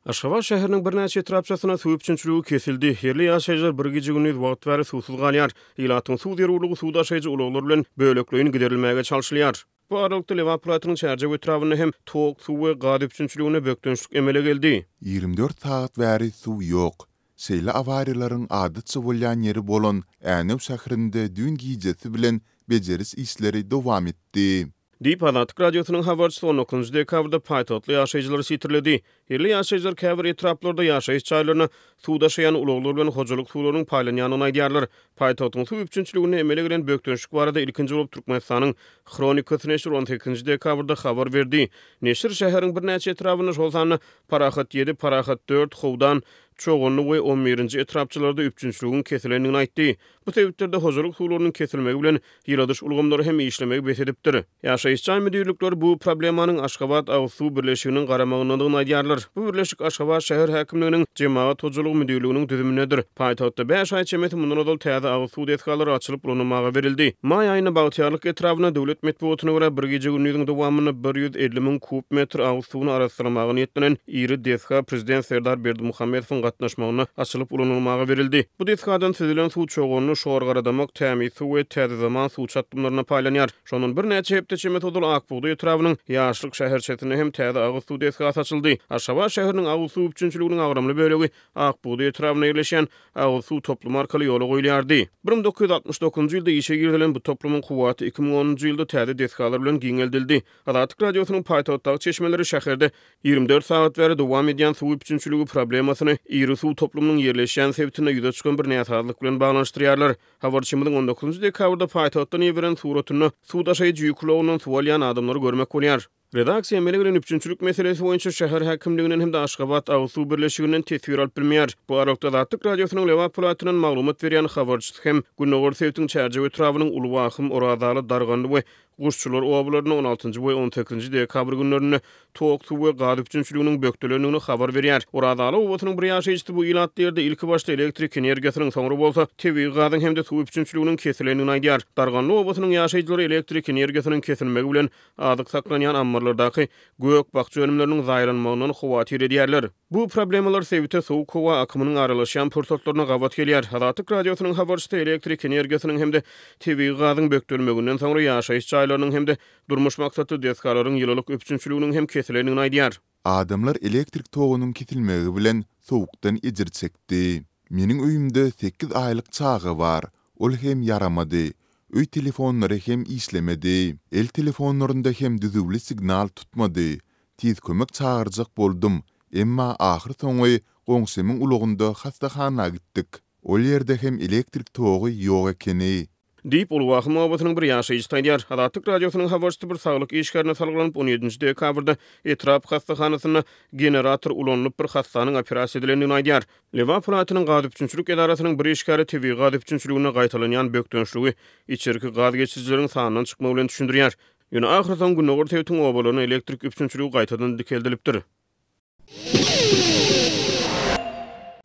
Aşgabat şäheriniň birnäçe etrapçasynda suw üpjünçiligi kesildi. Ýerli ýaşaýjylar bir gije-gündiz wagt bäri suwsuz galýar. Ilatyň suw zerurlygy suw daşaýjy ulaglar bilen bölekleýin giderilmäge çalşylýar. Bu aralykda, Lebap welaýatynyň Çärjew etrabynda hem tok suw we gaz üpjünçiliginde bökdençlik emele geldi. Ýigrimi dört sagat bäri suw ýok. Şeýle awariýalaryň adatça bolýan ýeri bolan Änew şäherinde düýn gijesi bilen bejeriş işleri dowam etdi. Diýip, Azatlyk Radiosynyň habarçysy on dokuzynjy dekabrda paýtagtly ýaşaýjylary sitirledi. Ýerli ýaşaýjylar käbir etraplarda ýaşaýyş jaýlaryna suw daşaýan ulaglar bilen hojalyk suwlarynyň paýlanýandygyny aýdýarlar. Paýtagtyň suw üpjünçiliginde emele gelen bökdençlik barada ilkinji bolup Türkmenistanyň Hronikasy neşiri on sekizinji dekabrda habar berdi. Neşir şäheriň birnäçe etrabynda, şol sanda Parahat ýedi, Parahat dört, Howdan, Çoganly we on birinji etrapçalarda üpjünçiligiň kesilendigini aýtdy. Bu sebitlerde hojalyk suwlarynyň kesilmegi bilen ýyladyş ulgamlary hem işlemegi bes edipdir. Ýaşaýyş jaý müdirlikleri bu problemanyň Aşgabat agyz suw birleşiginiň garamagyndadygyny aýdýarlar. Bu birleşik Aşgabat şäher häkimliginiň Jemagat hojalygy müdirliginiň düzümindedir. Paýtagtda bäş aý çemesi mundan ozal täze agyz suw desgalary açylyp ulanylmaga berildi. Maý aýynda Bagtyýarlyk etrabynda, döwlet metbugatyna görä, bir gije-gündiziň dowamynda bir ýüz elli müň kub metr agyz suwuny arassalamaga niýetlenen Iri desga prezident Serdar Berdimuhamedowyň gatnaşmagynda açylyp ulanylmaga berildi. Bu desgadan süzülen suw çoganly Şorgaradamak, Tämiz suw we Täze zaman suw çatdymlaryna paýlanýar. Şondan birnäçe hepde çemesi ozal Ak bugdaý etrabynyň Ýaşlyk şäherçesinde hem täze agyz suw desgasy açyldy. Aşgabat şäheriniň agyz suw üpjünçiliginiň agramly bölegi Ak bugdaý etrabynda ýerleşýän agyz suw toplumy arkaly ýola goýulýardy. Bir müň dokuz ýüz altmyş dokuzynjy ýylda işe girizilen bu toplumyň kuwwaty iki müň onunjy ýylda täze desgalar bilen giňeldildi. Azatlyk Radiosynyň paýtagtdaky çeşmeleri şäherde Ýigrimi dört sagat bäri dowam edýän suw üpjünçiligi problemasyny iri suw toplumynyň ýerleşýän sebitinde ýüze çykan bir näsazlyk bilen baglanyşdyrýarlar. Habarçymyzyň on dokuzynjy dekabrda paýtagtdan iberen suratynda suw daşaýjy ýük ulagyndan suw alýan adamlary görmek bolýar. Redaksiýa emele gelen üpjünçilik meselesi boýunça şäher häkimliginden hem-de Aşgabat agyz suw birleşiginden teswir alyp bilmeýär. Bu aralykda, Azatlyk Radiosynyň Lebap welaýatyndan maglumat berýän habarçysy hem gündogar sebitiň Çärjew etrabynyň Uly Wahym, Orazaly, Darganly we Guşçular obalarynda on altynjy we on sekizinji dekabr günlerinde tok suw we gaz üpjünçiliginiň bökdelendigini habar berýär. Orazaly obasynyň bir ýaşaýjysy bu ilatly ýerde ilkibaşda elektrik energiýasynyň, soňra bolsa tebigy gazyň hem-de suw üpjünçiliginiň kesilendigini aýdýar. Darganly obasynyň ýaşaýjylary elektrik energiýasynyň kesilmegi bilen azyk saklanýan ammarlardaky gök-bakja önümleriniň zaýalanmagyndan howatyr edýärler. Bu problemalar sebite sowuk howa akymynyň aralaşýan pursatlaryna gabat gelýär. Azatlyk Radiosynyň habarçysy elektrik energiýasynyň hem-de tebigy gazyň bökdelmeginden soňra ýaşaýyş jaýlarynyň hem-de durmuş maksatly desgalaryň ýylylyk üpjünçiliginiň hem kesilendigini aýdýar. Adamlar elektrik togunyň kesilmegi bilen sowukdan ejir çekdi. Meniň öýümde sekiz aýlyk çaga bar, ol hem ýaramady. Öý telefonlary hem işlemedi. El telefonlarynda hem düzüwli signal tutmady, Tiz kömek çagyrjak boldum, emma ahyr soňy goňşymyň ulagynda hassahana gitdik. Ol ýerde hem elektrik togy ýok ekeni. Diýip, Uly Wahym obasynyň bir ýaşaýjysy aýdýar. Azatlyk Radiosynyň habarçysy bir saglyk işgärine salgylanyp, on ýedinji dekabrda etrap hassahanasynda generator ulanylyp, bir hassanyň operasiýa edilendigini aýdýar. Lebap welaýatynyň gaz üpjünçilik edarasynyň bir işgäri tebigy gaz üpjünçiliginde gaýtalanýan bökdençligi içerki gaz geçirijileriň sandan çykmagy bilen düşündirýär. Ýöne ahyrsoňy Gündogar sebitiň obalaryna elektrik üpjünçiligi gaýtadan dikeldilipdir.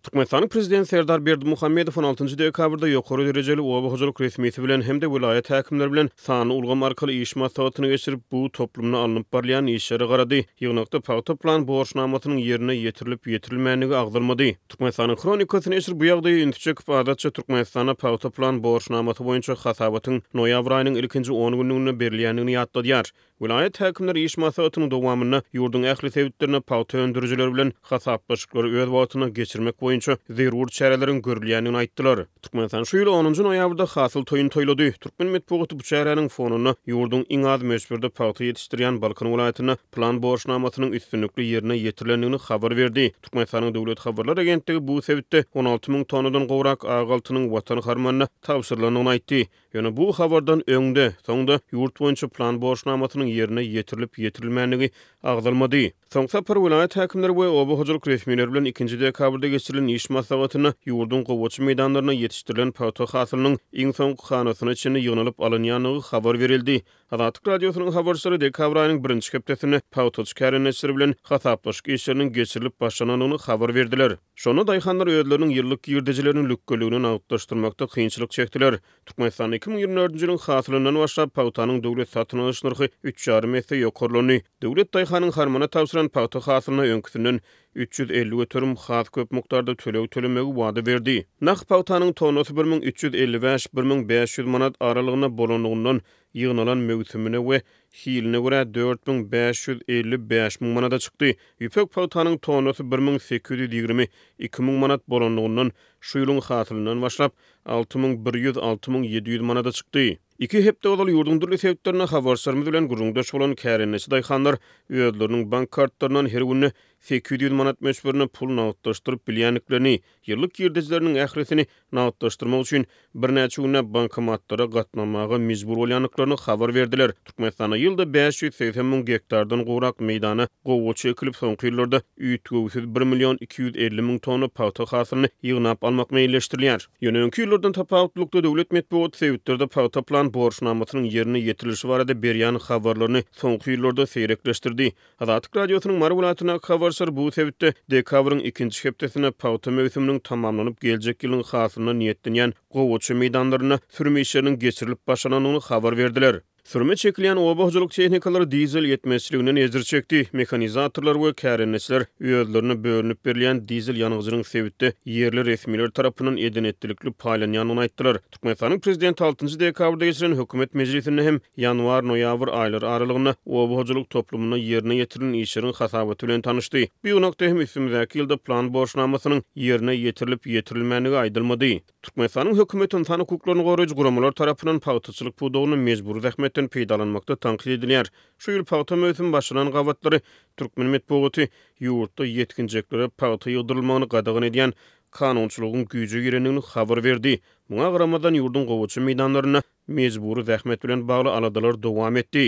Türkmenistanyň Prezidenti Serdar Berdimuhamedow on altynjy dekabrda ýokary derejeli oba hojalyk resmisi bilen hem-de welaýat häkimleri bilen sanly ulgam arkaly iş maslahatyny geçirip, bu toplumda alnyp barylýan işlere garady. Ýygnakda pagta plan borçnamasynyň ýerine ýetirilip-ýetirilmändigi agzalmady. Türkmenistanyň Hronikasy neşir bu ýagdaýa ünsi çekip, adatça Türkmenistana pagta plan borçnamasy boýunça hasabatyň noýabr aýynyň ilkinji on günlüginde berilýändigini ýatladýar. Welaýat häkimleri iş maslahatynyň dowamynda ýurduň ähli sebitlerinde pagta öndürijileri bilen hasaplaşyklary öz wagtynda geçirmek boýunça zerur çäreleriň görülýändigini aýtdylar. Türkmenistan şu ýyl onunjy noýabrda Hasyl toýuny toýlady. Türkmen metbugaty bu çäräniň fonunda ýurduň iň az möçberde pagta ýetişdirýän Balkan welaýatynda plan borçnamasynyň üstünlikli ýerine ýetirilendigini habar berdi. Türkmenistanyň Döwlet habarlar agentligi bu sebitde on alty müň tonnadan gowrak ak altynyň Watan harmanyna tabşyrylandygyny aýtdy. Ýöne bu habardan öň-de, soň-da ýurt boýunça plan borçnamasynyň ýerine ýetirilip-ýetirilmändigi agzalmady. Soň sapar welaýat häkimleri we oba hojalyk resmileri bilen ikinji dekabrda geçirilen iş maslahatynda ýurduň gowaça meýdanlarynda ýetişdirilen pagta hasylynyň iň soňky hanasyna çenli ýygnalyp alynýandygy habar berildi. Azatlyk Radiosynyň habarçylary dekabr aýynyň birinji hepdesinde pagtaçy kärendeçiler bilen hasaplaşyk işleriniň geçirilip başlanandygyny habar berdiler. Şonda daýhanlar özleriniň ýyllyk girdejilerini lükgüligine nagtlaşdyrmakda kynçylyk çekdiler. Türkmenistanda iki müň ýigrimi dördünji ýylyň hasylyndan başlap pagtanyň döwlet satyn alyş nyrhy üç ýarym esse ýokarlandy. Döwlet daýhanyň harmana tabşyran pagta hasylyna öňküsinden üç ýüz elli göterim has köp mukdarda töleg tölemegi wada berdi. Nah pagtanyň tonnasy bir müň üç ýüz elli bäş, bir müň bäş ýüz manat aralygynda bolanlygyndan, ýygnalan möwsümine we hiline görä dört müň bäş ýüz elli bäş müň manada çykdy. Ýüpek pagtanyň tonnasy bir müň sekiz ýüz ýigrimi iki müň manat bolanlygyndan, şu ýylyň hasylyndan başlap, alty müň bir ýüz, alty müň ýedi ýüz manada çykdy. Iki hepde ozal ýurduň dürli sebitlerinde habarçylarymyz bilen gürrüňdeş bolan kärendeçi daýhanlar özleriniň bank kartlaryndan her günde sekiz ýüz manat möçberinde pul nagtlaşdyryp bilýändiklerini, ýyllyk girdejileriniň ählisini nagtlaşdyrmak üçin birnäçe günläp bankomatlara gatnamaga mejbur bolýandyklaryny habar berdiler. Türkmenistanda ýylda bäş ýüz segsen müň gektardan gowrak meýdana gowaça ekilip, soňky ýyllarda üýtgewsiz bir million iki ýüz elli müň tonna pagta hasylyny ýygnap almak meýilleşdirilýär. Ýöne öňki ýyllardan tapawutlylykda döwlet metbugaty sebitlerde pagta plan borçnamasynyň ýerine ýetirilişi barada berýän habarlaryny soňky ýyllarda seýrekleşdirdi. Azatlyk Radiosynyň Mary welaýatyndaky habarçylar bu sebitde dekabryň ikinji hepdesinde pagta möwsüminiň tamamlanyp geljek ýylyň hasylyna niýetlenýän gowaça meýdanlarynda sürüm işleriniň geçirilip başlanandygyny habar berdiler. Sürüme çekilýän oba hojalyk tehnikalary dizel ýetmezçiliginden ejir çekdi. Mehanizatorlar we kärendeçiler özlerine bölünip berilýän dizel ýangyjynyň sebitde ýerli resmiler tarapyndan eden-etdilikli paýlanýandygyny aýtdylar. Türkmenistanyň Prezidenti altynjy dekabrda geçiren hökümet mejlisinde hem ýanwar-noýabr aýlary aralygynda oba hojalyk toplumynda ýerine ýetirilen işleriň hasabaty bilen tanyşdy. Bu ýygnakda hem üstümizdäki ýylda plan borçnamasynyň ýerine ýetirilip-ýetirilmändigi aýdylmady. Türkmenistanyň hökümeti ynsan hukuklaryny goraýjy guramalar tarapyndan pagtaçylyk pudagynda mejbury zähmetden peýdalanmakda tankyt edilýär. Şu ýyl pagta möwsümi başlanan gabatlary türkmen metbugaty ýurtda ýetginjeklere pagta ýygdyrylmagyny gadagan edýän kanunçylygyň güýje girendigini habar berdi. Muňa garamazdan, ýurduň gowaça meýdanlarynda mejbury zähmet bilen bagly aladalar dowam etdi.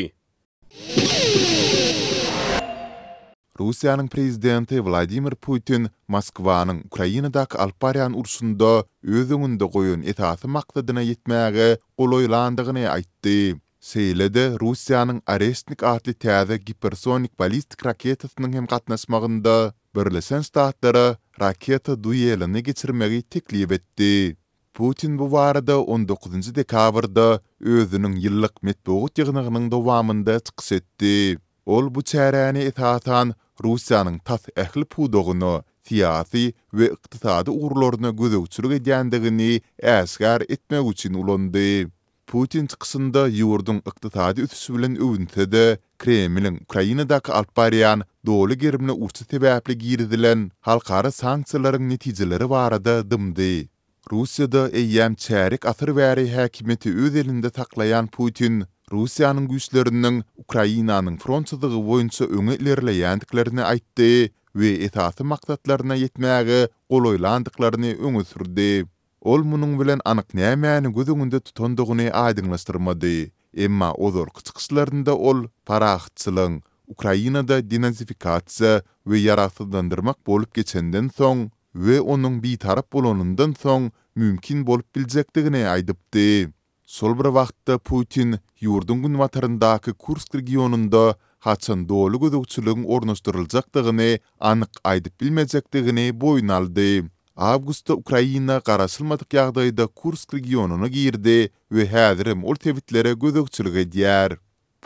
Russiýanyň Prezidenti Wladimir Putin Moskwanyň Ukrainadaky alyp barýan urşunda öz öňünde goýan esasy maksadyna ýetmäge golaýlandygyny aýtdy. Şeýle-de Russiýanyň Oreşnik atly täze gipersonik ballistik raketasynyň hem gatnaşmagynda Birleşen Ştatlara raketa duelini geçirmegi teklip etdi. Putin bu barada on dokuzynjy dekabrda özüniň ýyllyk metbugat ýygnagynyň dowamynda çykyş etdi. Ol bu çäräni esasan Russiýanyň tas ähli pudagyna, syýasy we ykdysady ugurlaryna gözegçilik edýändigini äşgär etmek üçin ulandy. Putin çykyşynda ýurduň ykdysady ösüşi bilen öwünse-de, Kremliň Ukrainadaky alyp barýan doly gerimli urşy sebäpli girizilen halkara sanksiýalaryň netijeleri barada dymdy. Russiýada eýýäm çärýek asyr bäri häkimiýeti öz elinde saklaýan Putin Russiýanyň güýçleriniň Ukrainanyň front çyzygy boýunça öňe ilerleýändiklerini aýtdy we esasy maksatlaryna ýetmäge golaýlandyklaryny öňe sürdi. Ol munuň bilen anyk nämäni göz öňünde tutandygyny aýdyňlaşdyrmady, emma ozalky çykyşlarynda ol parahatçylygyň Ukrainada denazifikasiýa we ýaragsyzlandyrmak bolup geçenden soň we onuň bitarap bolanyndan soň mümkin bolup biljekdigini aýdypdy. Şol bir wagtda Putin ýurduň günbataryndaky Kursk regionynda haçan doly gözegçiligiň ornaşdyryljakdygyny anyk aýdyp bilmejekdigini boýun aldy. Awgustda Ukraina garaşylmadyk ýagdaýda Kursk regionyna girdi we häzirem ol sebitlere gözegçilik edýär.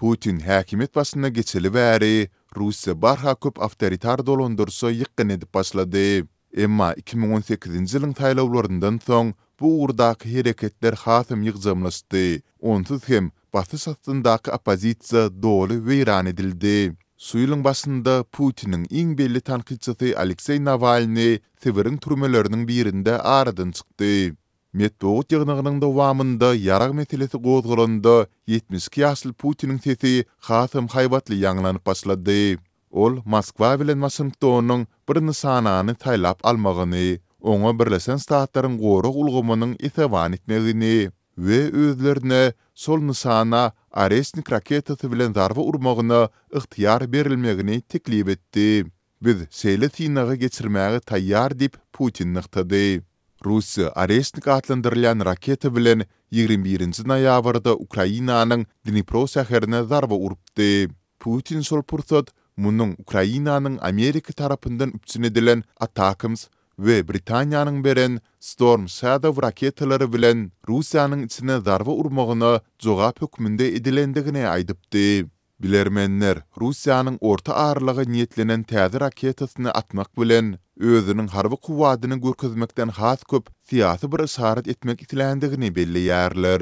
Putin häkimiýet başyna geçeli bäri, Russiýa barha köp awtoritar dolandyryşa ýykgyn edip başlady. Emma iki müň on sekizinji ýylyň saýlawlaryndan soň bu ugurdaky hereketler hasam ýygjamlaşdy, onsuz hem basyş astyndaky oppozisiýa doly weýran edildi. Şu ýylyň başynda Putiniň iň belli tankytçysy Alekseý Nawalnyý Sibiriň türmeleriniň birinde aradan çykdy. Metbugat ýygnagynyň dowamynda ýarag meselesi gozgalanda, ýetmiş iki ýaşly Putiniň sesi hasam haýbatly ýaňlanyp başlady. Ol Moskwa bilen Waşingtonyň bir nyşanany saýlap almagyny, oňa Birleşen Ştatlaryň gorag ulgamynyň esewan etmegini we özlerine şol nyşana Oreşnik raketasy bilen zarba urmagyna ygtyýar berilmegini teklip etdi. Biz şeýle synagy geçirmäge taýýar diýip, Putin nygtady. Russiýa Oreşnik atlandyrylýan raketa bilen ýigrimi birinji noýabrda Ukrainanyň Dnipro şäherine zarba urupdy. Putin şol pursat munuň Ukrainanyň Amerika tarapyndan üpjün edilen Atakms we Britaniýanyň beren Storm Shadow raketalary bilen Russiýanyň içine zarba urmagyna jogap hökmünde edilendigini aýdypdy. Bilermenler, Russiýanyň orta aralyga niýetlenen täze raketasyny atmak bilen, özüniň harby kuwwadyny görkezmekden has köp syýasy bir yşarat etmek isländigini belleýärler.